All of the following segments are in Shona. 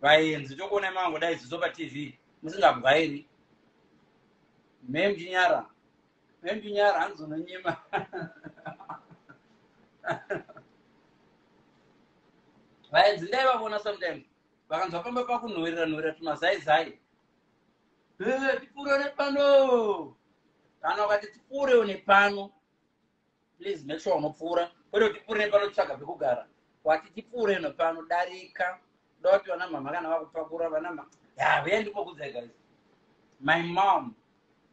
vaenzi tongoona mango dai zizo patv musingabwairi mem chinyara mem chinyara hanzi unonyima vaenzi ndai vavona sometimes vakanzwa pamba pakunhoerera nhoerera tumazaizai tipfuure nepano kana ukati tipfuure nepano please make sure unopfuura kwete kuti tipfuurei pano tsvaga pekugara wati tipfuurei no pano darika da kuti vana mama kana vakupakura vana mama ya veya ndimbokudzai guys my mom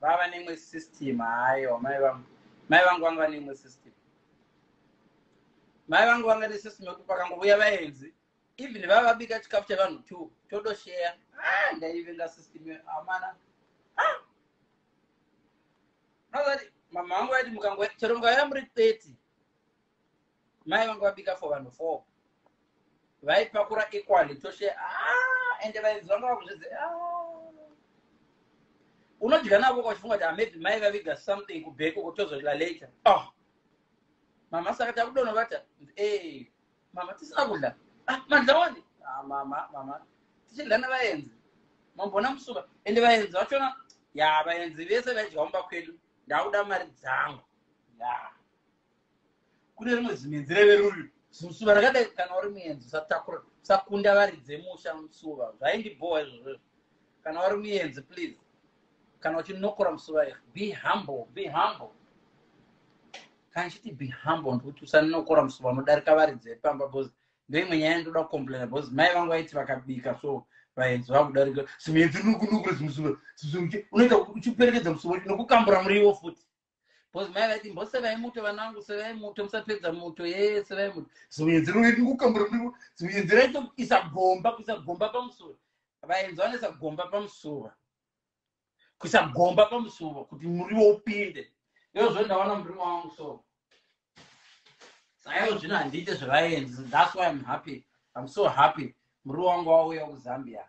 vava neimwe system hayo mai vangu mai vangu vanga vane imwe system mai vangu vanga ne system yekuti pakangovuya vaenzi even vava vabika chikafu chevanhu two todosheya ah, ndaivenga system amana ah! unozati mama vangu vaiti mukango chero mukauya muri 30 mai vangu vabika for vanhu four vaipakura equally toshe ah, ende vainzi vanga vakuzvidze ah. unodya navo kwachifunga kuti amaybe mai vaviga something kubheko kutozodya later oh. mama saka takudonobata e eh, mama tisina kudya ah, madya wani ah, mama mama tichidya nevaenzi mambona musuka ende vaenzi vachona ya vaenzi vese vaidya mumba kwedu ndakuda mari dzangu ya kune rimwe zimenzi reve ruri zimusuva rakadai kana uri muenzi usatakura usakunda vari dzemusha musuva zvaindibhowa izvozvo kana wari muyenzi please kana uchinokora musuraira be humble be humble kana chiti be humble ndikuti usanokora musuva unodarika varidzi vepamba bcause ndoimwe nyaya ndoda kucomplaina bcause mai vangu vaiti vakabika so vaenzi vakudarika simuyenzi nokunokora simusuva unoita uchiperekedza musuva nokukambura muriwo futi because mai vaiti mbosevai muto vana vangu sevai muto musapedza muto yee sevai muto zimuyenzi rinoiti kukambura muriwo zimuyenzi raito isa gomba kuisa gomba pamusura vayenzi vanoisa gomba pamusura kuisa gomba pamusura kuti muriwo upinde iozvo ndaona muriwo wangu so saivo zvino handiite zvevayenzi thats why im happy im so happy muriwo wangu wauya kuzambia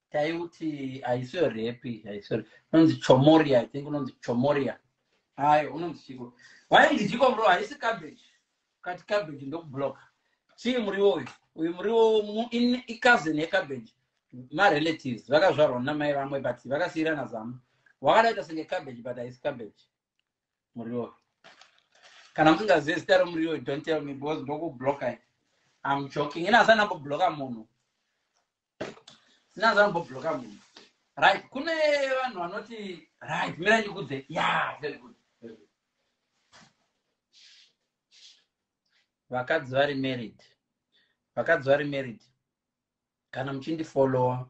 taiuti haisiyo repi haisiyo unonzi chomoria i think unonzi chomoria ayo unonzi chiko wainzi chiko muriwo haisi cabbage kati cabbage ndokubloka chii muriwo uyu uyu muriwo icousin yecabbage marelatives vakazvarwa namai vamwe but vakasiyirana zama wakadaita senge cabbage but haisi cabbage muriwo kana musingazive zita romuriwo don't tell me because ndokubloka i'm joking ini asanamboblocka munhu Nyanza anombobloka munhu. Right, kune vanhu vanoti right, mira ndikudze. Yeah, very good. Vakadzi vari married. Vakadzi vari married. Kana muchindifollowa,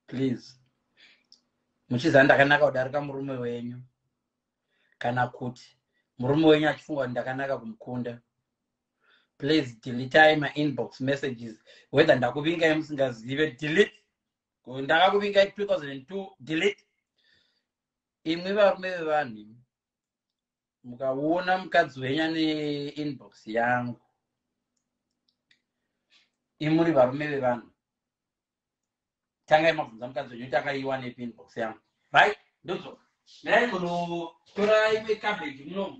please. Muchiziva ndakanaka kudarika murume wenyu. Kana kuti murume wenyu achifunga kuti ndakanaka kumukunda. please deletai mainbox messages whether ndakuvingai musingazive delete ndakakuvingai 2002 delete imwi varume vevanhu mukaona mukadzi wenyu ane inbox yangu imuri varume vevanhu tangai mabvunza mukadzi wenyu kuti akaiwanepi inbox yangu right ndozoka dai munotora imwe cabbage munomu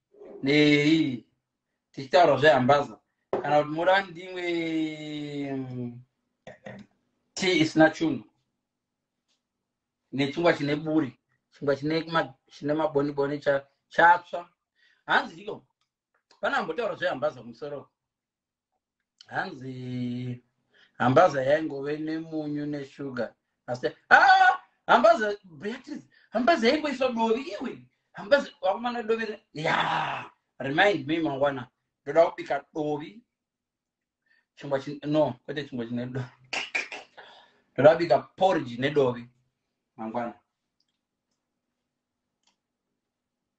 nei tichitaura zvehambaza kana kuti moda ndimwe mm, tii isina chunhu nechingwa chine buri chingwa chine ma- chine maboniboni cha- chatsva hanzi chiko pane ambotaura zvehambaza kumusoro hanzi hambaza yaingove nemunyu neshuga asi ah, hambaza beatrice hambaza yaingoiswa dovi iwe hambaza wakumana dovi ya remind me mangwana ndoda kubika dovi chingwa no kwete chingwa chine dovi ndoda kubika porridge nedovi mangwana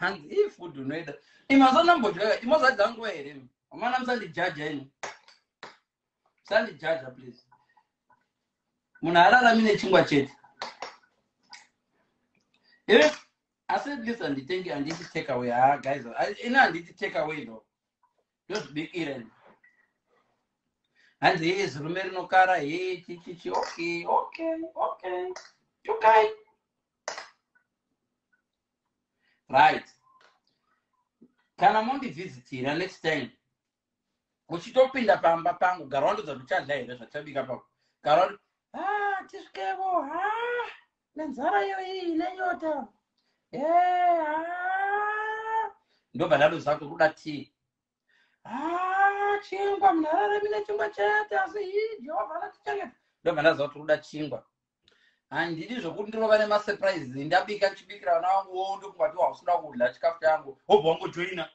hanzi ii food unoida imazoona mbodya imozadza nguva here amana musandijaja ini musandijaja please munhu ararami nechingwa chete ive asi at least handitenge handiti take away ha ah, guys ini handiti take away no ndozvibikira ini hanzi hee zirume rinokara hee chichichi okay okay okay tukai right kana mondivhizitira next time uchitopinda pamba pangu gara wandodza kuti uchadla here zvachabika pako gara wati ah, tisvikevo ha ah, nenzara yoii nenyota eh, ah. ndobva ndadoza kuti kuda tii haa chingwa munhu araramira chingwa chete asi hii jehovha anatichengeta ndobva ndaziva kuti kuda chingwa handidi zvokuti ndinova nemasurprises ndabika ndichibikira vana vangu wo ndokungatiwa usida kudya chikafu changu hobva wangojoina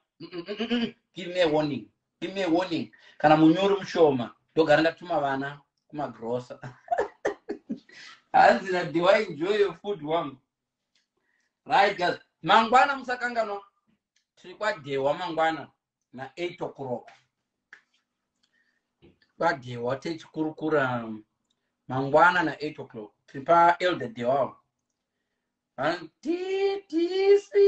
give me warning give me warning kana munyori mushoma ndogara ndatuma vana kumagrosa hanzi nadiwa enjoy your food wangu right guys mangwana musakanganwa tiri kwadewa mangwana na 8 o'clock kwadewa techikurukura mangwana na 8 o'clock tiri paelder dewa vanotitisi